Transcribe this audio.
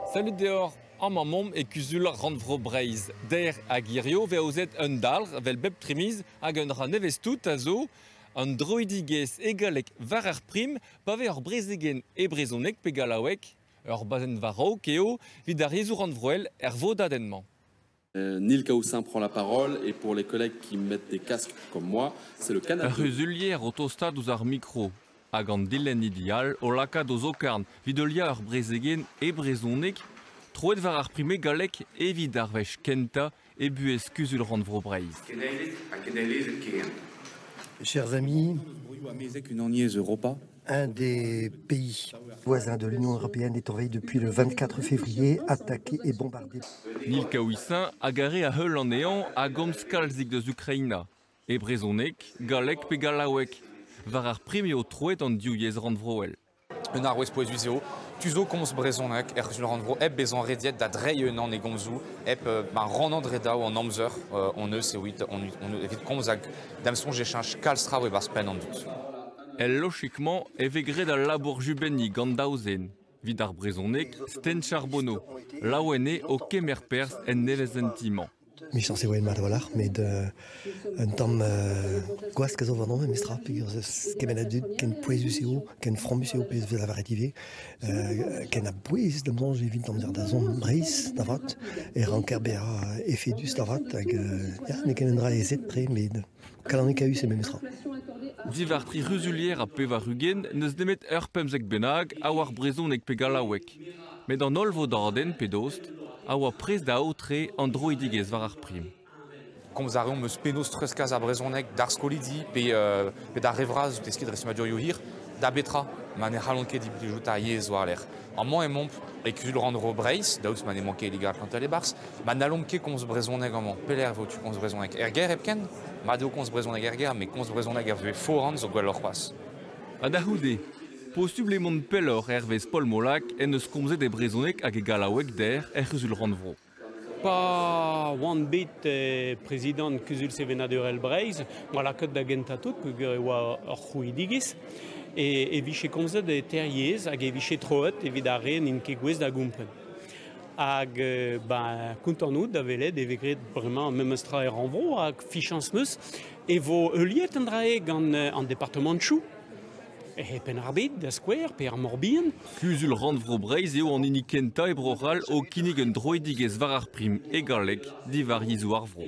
Sellit deoc'h, amañ omp e Kuzul Rannvro Breizh. Der hag hiziv vez aozet un dalc'h evel bep trimiz hag un dra nevez-tout a zo an droidigezh hegalek war ar prim pa vez ur brezegenn e brezhoneg pe gallaoueg. Ur bazenn war-raok eo evit ar yezhoù rannvroel er vodadenn-mañ. Nil Kaoussin prend la parole et pour les collègues qui mettent des casques comme moi, c'est le canapé. Ur c'huzulier o tostaat ouzh ar mikro hag an dilennidi all o lakaat o zokarn evit heuliañ ur brezegenn e brezhoneg troet war ar prime gallek evit ar wech kentañ e buhez Kuzul-rannvro Breizh. Chers amis, une année Europa Un des pays voisins de l'Union européenne est envahi depuis le 24 février, attaqué et bombardé. Nil Kaouissin a garé a heul anezhañ a gomz kalzik deus Ukraina, e brezhoneg, galleg pe gallaoueg, war ar prim eo troet an div yezh rannvroel. Un arouez pouezus eo tu zo komz brezhoneg er rannvro hep bezañ rediet da dreiñ unan e gomzoù, hep euh, ma rannañ dre daou an amzer euh, on eus evit, on, on, evit komz hag da'm soñj e cheñch kalz traoù e-barzh penn an dud. El lochig-mañ e vez graet al labour jubenniñ gant daou zen evit ar brezhoneg Sten Charbonneau, laouen eo o kemer perzh en nevezenti-mañ. Michañs e oa mat a-walc'h, met euh, un tamm euh, gwask a zo warnomp memestra, peger kement a dud ken pouezus eo, ken fromus eo, pezh vez lavaret ivez, euh, ken a bouez da boñj evit d'amzer da zont Breizh, da vat, e ranker bezañ efedus da vat, hag euh, ya, n'eo ket un dra ezet tre, met Kalonekaus eo memestra. Diwar tri c'huzulier ha pevar ugent n'eus nemet ur pemzek bennak a oar brezhoneg pe gallaoueg. Met an holl vodadenn, pe dost, a oa prest da aotre an droidigezh war ar prim. Komz a reomp eus penaos treuzkas ar brezhoneg d'ar skolidi pe, euh, pe d'ar re vras, deskiñ dre stummadurioù hir, da betra ma ne c'hallont ket implijout ar yezh war-lerc'h. Amañ emaomp e Kuzul-rannvro Breizh, daoust ma n'emañ ket Liga Atlantel e-barzh. Ma n'hallomp ket komz brezhoneg amañ, pelec'h vo tu komz brezhoneg er gêr hepken? Mat eo komz brezhoneg er gêr, met komz brezhoneg er vuhez foran zo gwelloc'h c'hoazh. Ha da c'houde, posubl eo mont pelloc'h hervez Paul Molac en deus komzet e brezhoneg hag e gallaoueg dec'h er C'huzul-rannvro. Pa oan bet prezidant Kuzul Sevenadurel Breizh, oa lakaet da gentañ tout peogwir e oa ur c'hrouidigezh e, e vije komzet eter yezh hag e vije troet evit ar re n'int ket gouest da gompren. Hag ben, kontant out da welet e vez graet bremañ memes tra er rannvro hag fichañs 'neus e vo heuliet an dra-se gant an departamantoù E Penn-ar-Bed, da skouer, pe ar Mor-Bihan. Kuzul-rannvro Breizh eo an hini kentañ e Bro-C'hall o kinnig un droidigezh war ar prim e galleg diwar yezhoù ar vro.